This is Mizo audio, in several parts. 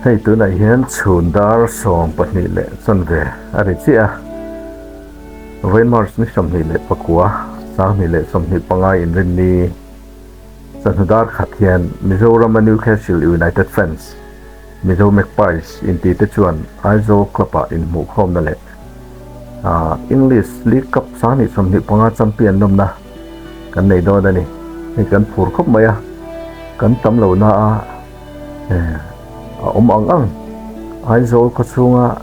Hei tunah hian chhun dar sawm pahnih leh chanve a ri chiah a, vawi March ni sawmhnih leh pakua, sanghnih leh sawmhnih pangngai inrinni chahnu darkhat hian Mizoram-a Newcastle United Fans, Mizo Magpies inti te chuan Aizawl club-a inhmuhkhawmna leh English League Cup sang ni sawmhnih panga champion lawmna kan nei dawn a ni. Hei kan phur khawp mai a, kan tam lo na a awm ang ang. Aizawl khaw chhunga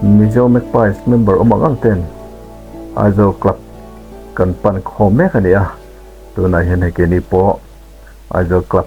Mizo Magpies member awm ang ang ten Aizawl club kan pan khawm mek a ni a, tunah hian hei keni pawh Aizawl club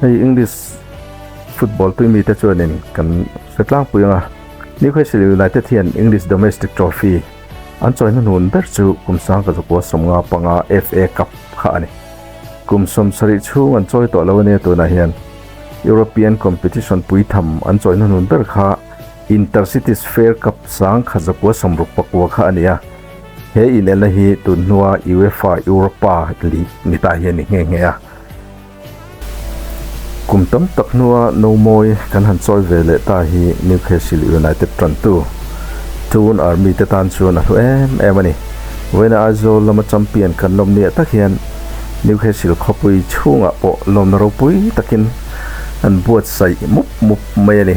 Hei English football pui mi te chuan in kan hre tlang pui ang a, Newcastle United hian English Domestic Trophy an chawi na hnu ber chu kum sangka zakua sawmnga panga FA Cup kha a ni. Kum sawm sarih chhung an chawi tawh lo ania tunah hian European competition pui tham an chawi na hnu ber kha Intercities Fare Cup sangkha zakua sawm ruk pakua kha a ni a, He inena hi tun hnua UEFA Europa League ni ta hian ni nghe nghe a. Kum tam tak hnua no mawi kan han chawi ve leh ta hi Newcastle United tantu Toon Army te tan chuan a hlu em em a ni. Vawiin a Aizawl lama champion kan lawm niah tak hian Newcastle khawpui chhungah pawh lawmna ropui takin an buatsaih mup mup mai a ni.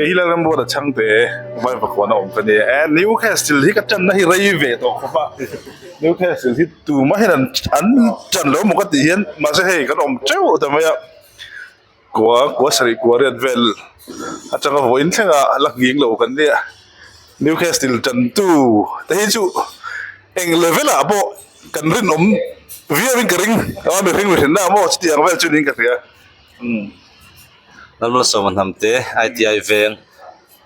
Kei hi Lalram Road a chhang teh e, vai vakua na awm ka nia e, Newcastle hi ka tanna hi rei ve tawh khawp a, Newcastle hi tumah hian an an tan lo maw ka tih hian mahse hei kan awm teuh ta mai a, kua kua sarih kua riat vel atanga vawiin thleng a la nghing lo kan nia, Newcastle tantu te hi chu eng le velah pawh kan rinawm viau in ka ring, a mihring ri hrinna maw chutiang vel chuan in ka hria umm. Lalmuala sawmnga hnam te iti veng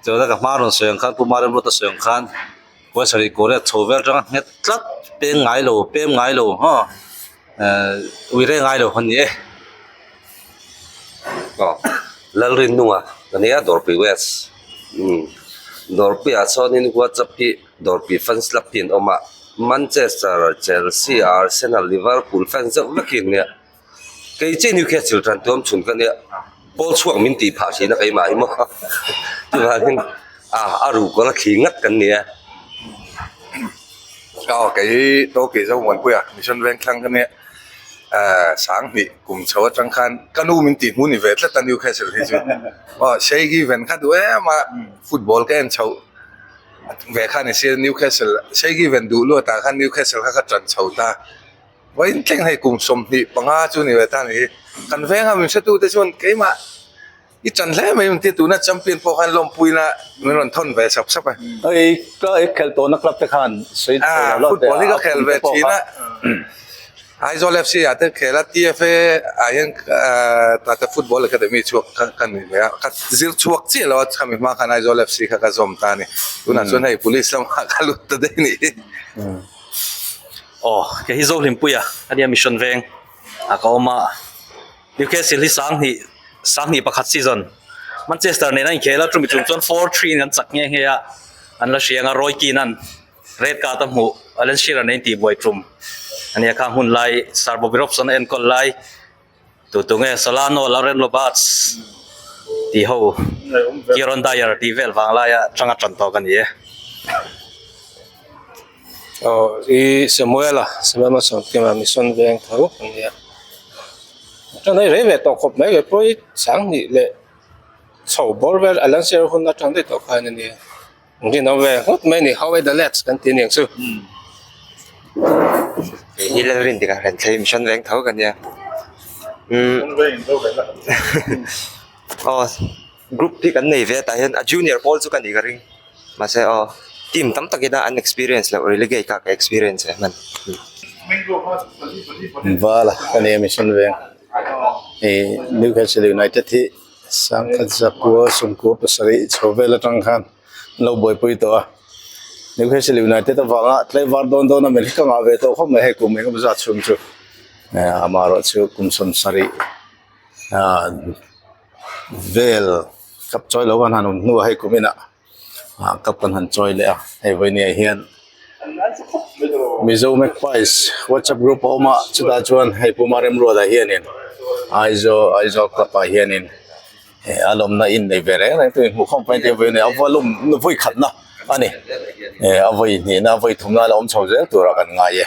chawlh a ka hma rawn sawi ang khan puma rimruta sawi ang khan kawng sarih kawr leh a chho vel aṭanga nghet tlat peng ngai lo pem ngai lo haw ui reng ngai lo a ni e aw Lalrinnunga ka nia dawrpui west umm dawrpuiah chuanin whatsapp hi dawrpui fans lak hi an awm a manchester chelsea arsenal liverpool fan zeuh vek hi an nia. kei chiah ni khe chhilh tan tuam chhun ka nia pawl chhuak min tih phah thin a keimah hi maw ah a ruk kawla thli ngat kan nia aw kei hi tawkih zohmuanpuiah mission veng thlang ka nia ahh sang hnih kum chho atang khan ka nu min tih hmu ni ve tlat a ni khe chhilh hi chu aw seigi ven kha duh em a football ka en chho ve kha ni sir newcastle seigi ven duh luatah khan newcastle kha ka tan chho ta. vawiin tleng hei kum sawmhnih panga chu ni awm ta ni hi kan veng a min hre tute chuan keimah i chan hle mai ang tia tuna champion pawh khan lawmpuiin a min rawn thawn ve sap sap a hei ka i khel tawh na club te khan sawi tha lo la football hi ka khel ve thin a Aizawl FC ah te khel a tfa ah hian tata football academy chhuak kha ka ni leh a ka zir chhuak chiah lo a khami hma khan Aizawl FC kha ka zawm ta a ni tunah chuan hei police lamah ka lut ta daih a ni. aw kei hi zohhlimpuia a nia mission veng ah ka awm a newcastle hi sang hnih sang hnih pakhat season manchester nena a inkhel a chumi chung chuan four three in an chak nghe nghe a an la hriang a roy keane an red card a hmuh alan shearer an intihbuai tum a nia khang hunlai sir bobby robson a enkawl lai. Tutu nge Solano Laureno Bats tih ho Kieron Dyer tih vel vang laia changa tan tawk a ni e. Aw i Samuel a, Samuel Mason Kima mission veng tho a nia. Tan hi rei ve tawh khawp mai leh pawh i Sangni leh chho bawr vel Alan Shearer hunna tan daih tawh khan a nia. Dinawm ve nghut mai a ni, how are the lads kan tih aniang chu. Kei hi Lalrin dikah kan thei mission veng tho ka nia. Group hi kan nei ve a, tah hian a junior pawl chu ka ni ka ring. Mahse aw team tam tak ina an experience loh relegate kah ka experience e hman. Vala ka nia mission veng. Newcastle United hi. Sangkhat zakua sumkua pasarih chho vel atang khan an lo buaipui tawh a, Newcastle United avanga tlai var dawn dawn a melh hi ka ngah ve tawh khawp mai hei kum engemaw zat chhung chu amah erawh chu kum sawn sarih vel kap chawilo khan han awm hnuah hei kum inah. ah cup kan han chawi leh a hei vawinia ah hian mizo magpies whatsapp group a awm a chutah chuan hei puma rimruat ah hianin aizawl aizawl club ah hianin he a lawmna inneih ve reng reng te inhmuh khawm pahin te vawiin a vawiin a nuvui khatna a ni e a vawi hnihna a vawi thumna ala awm chho zel turah kan ngai e.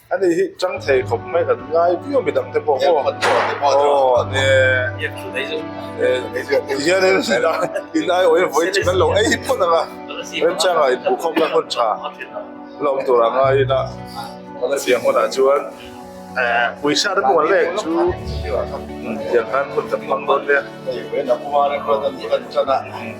Ani hi chang thei khawp mai kan ngai viau mi dangte pawh aw aw ni hian in in ai awih vawi chi kan lo ei phawt ang a remchang ah inpuh khawm lai hun tha la awm tur ah ngai in a siam hunah chuan puisa rep mual lek chu tiang khan hun kan hmang dawn nia.